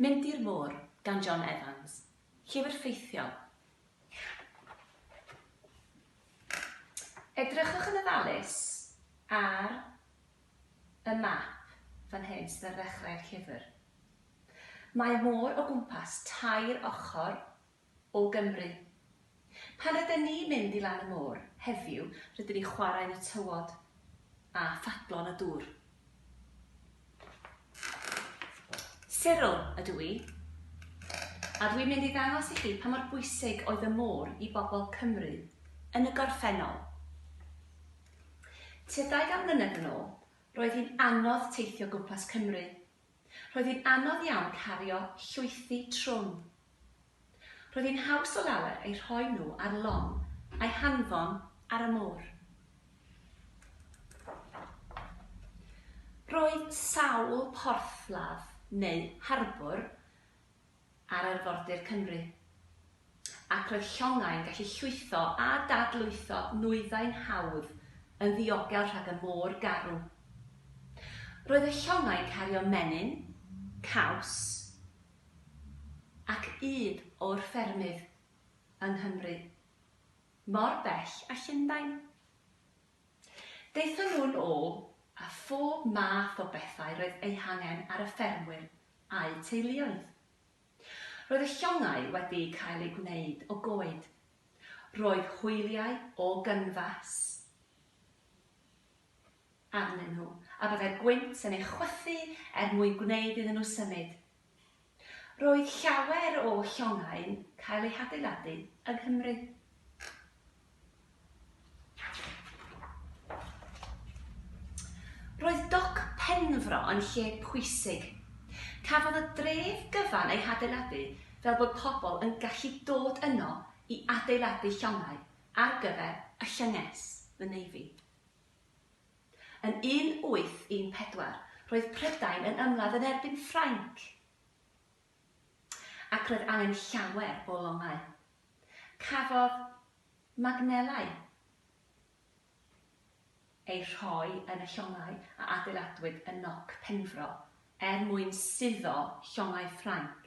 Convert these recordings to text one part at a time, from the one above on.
Mynd i'r Môr gan John Evans, llyfr ffeithiol. Edrychwch yn ofalus ar y map fan hyn sydd ar ddechrau'r llyfr. Mae môr o gwmpas tair ochr o Gymru. Pan rydyn ni'n mynd i lan y môr, heddiw, rydyn ni'n chwarae yn y tywod a phadlo'n y dŵr. Cyril ydw i, a dwi'n mynd i ddangos i chi pa mor bwysig oedd y môr i bobl Cymru yn y gorffennol. Tua 20 mlynedd yn ôl, roedd hi'n anodd teithio gwmpas Cymru Roedd hi'n anodd iawn cario llwythi trwm. Roedd hi'n haws o lawer eu rhoi nhw ar lon a'i hanfon ar y môr. Roedd sawl porthladd neu harbwr ar arfordir Cymru, ac roedd llongau'n gallu llwytho a dadlwytho nwyddau'n hawdd yn ddiogel rhag y môr garw. Roedd y llongau'n cario menyn, caws ac ŷd o'r ffermydd yng Nghymru, mor bell â Llundain. Daethon nhw'n ôl â phob math o bethau roedd eu hangen ar y ffermwyr a'u teuluoedd. Roedd y llongau wedi cael eu gwneud o goed. Roedd hwyliau o gynfas arnyn nhw, a byddai gwynt yn ei chwythu er mwyn gwneud iddyn nhw symud. Roedd llawer o llongau'n cael eu hadeiladu yng Nghymru. Roedd Doc Penfro yn lle pwysig. Cafodd y dref gyfan ei hadeiladu fel bod pobl yn gallu dod yno i adeiladu llongau ar gyfer y llynges, the Navy. Yn 1814, roedd Prydain yn ymladd yn erbyn Ffrainc. Ac roedd angen llawer o longau. Cafodd magnelau eu rhoi yn y llongau a adeiladwyd yn Noc Penfro er mwyn suddo llongau Ffrainc.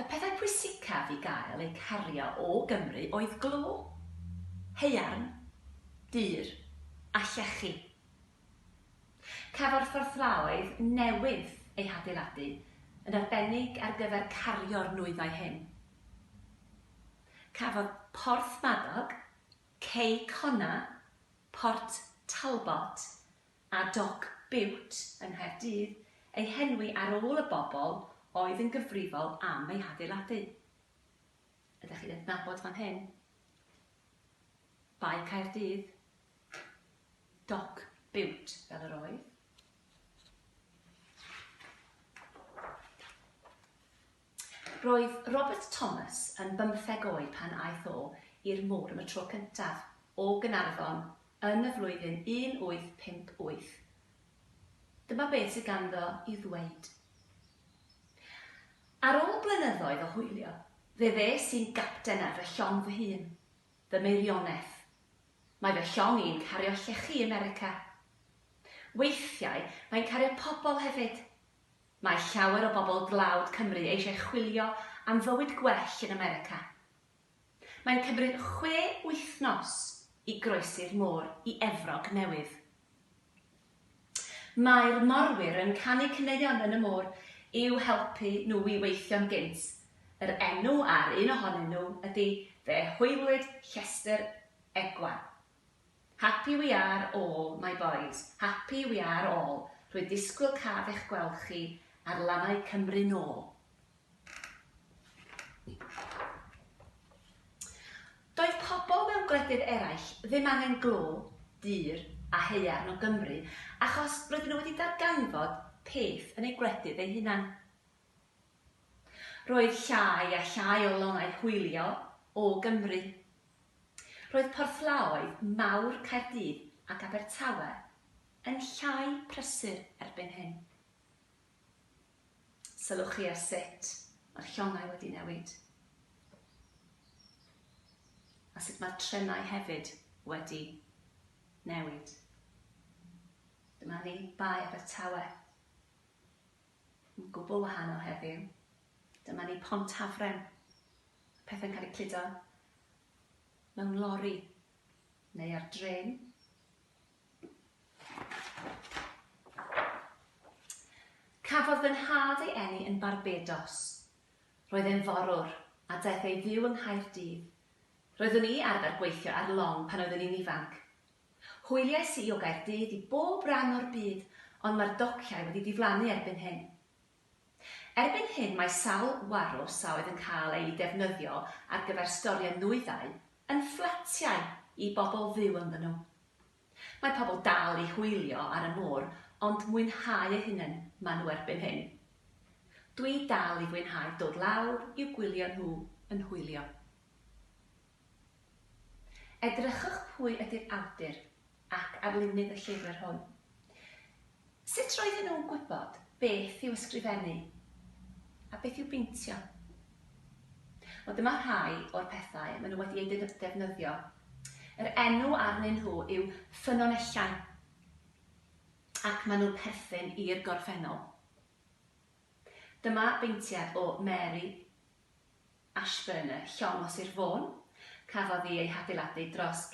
Y pethau pwysicaf i gael eu cario o Gymru oedd glo, haearn, dur a llechi. Cafodd fforthfaoedd newydd eu hadeiladu yn arbennig ar gyfer cario'r nwyddau hyn. Cafodd Porthmadog, Cei Connah, Port Talbot a Doc Bute yng Nghaerdydd eu henwi ar ôl y bobl oedd yn gyfrifol am ei hadeiladu. Ydych chi'n adnabod fan hyn? Bae Caerdydd, Doc Bute fel yr oedd. Roedd Robert Thomas yn bymtheg oed pan aeth o i'r môr am y tro cyntaf o Gaernarfon yn y flwyddyn 1858. Dyma beth sydd ganddo i'w ddweud, Ar ôl blynyddoedd o hwylio, fe ddes i'n gapten ar fy llong fy hun. Fy meirioneth. Mae fy llong i'n cario llechi America. Weithiau mae'n cario pobl hefyd. Mae llawer o bobl dlawd Cymru eisiau chwilio am fywyd gwell yn America. Mae'n cymryd chwe wythnos i groesi'r môr i Efrog Newydd. Mae'r morwyr yn canu caneuon yn y môr i'w helpu nhw i weithio'n gynt, yr enw ar un ohonyn nhw ydy Fe Hwylwyd Llestr Egwan. Happy we are all my boys, happy we are all, rwy'n disgwyl caf eich gweld chi ar lannau Cymru nôl! Doedd pobl mewn gwledydd eraill ddim angen glo, dur a haearn o Gymru achos roedden nhw wedi darganfod peth yn eu gwledydd eu hunain. Roedd llai a llai o lonnau hwylio o Gymru. Roedd porthlaoedd mawr Caerdydd ac Abertawe yn llai prysur erbyn hyn. Sylwch chi ar sut mae'r llongau wedi newid. A sut mae'r trenau hefyd wedi newid. Dyma ni, Bae Abertawe. Yn gwbl wahanol heddiw. Dyma ni Pont Hafren. Mae pethau'n cael eu cludo mewn lori neu ar drên. Cafodd fy nhad ei eni yn Barbados. Roedd e'n forwr a daeth ei fyw yng Nghaerdydd. Roeddwn i arfer gweithio ar long pan oeddwn i'n ifanc, Hwyliais i o Gaerdydd i bob ran o'r byd ond mae'r dociau wedi diflannu erbyn hyn. Erbyn hyn mae sawl warws a oedd yn cael eu defnyddio ar gyfer storio nwyddau yn fflatiau i bobl fyw ynddyn nhw. Mae pobl dal i hwylio ar y môr ond mwynhau eu hunain maen nhw erbyn hyn. Dwi dal i fwynhau dod lawr i'w gwylio nhw yn hwylio. Edrychwch pwy ydy'r awdur ac arlunydd y llyfr hwn. Sut roedden nhw'n gwybod beth i'w ysgrifennu a beth i'w beintio? Wel, dyma rhai o'r pethau maen nhw wedi eu defnyddio. Yr enw arnyn nhw yw ffynonellau ac maen nhw'n perthyn i'r gorffennol. Dyma beintiad o Mary Ashburn, Llong o Sir Fôn. Cafodd hi ei hadeiladu dros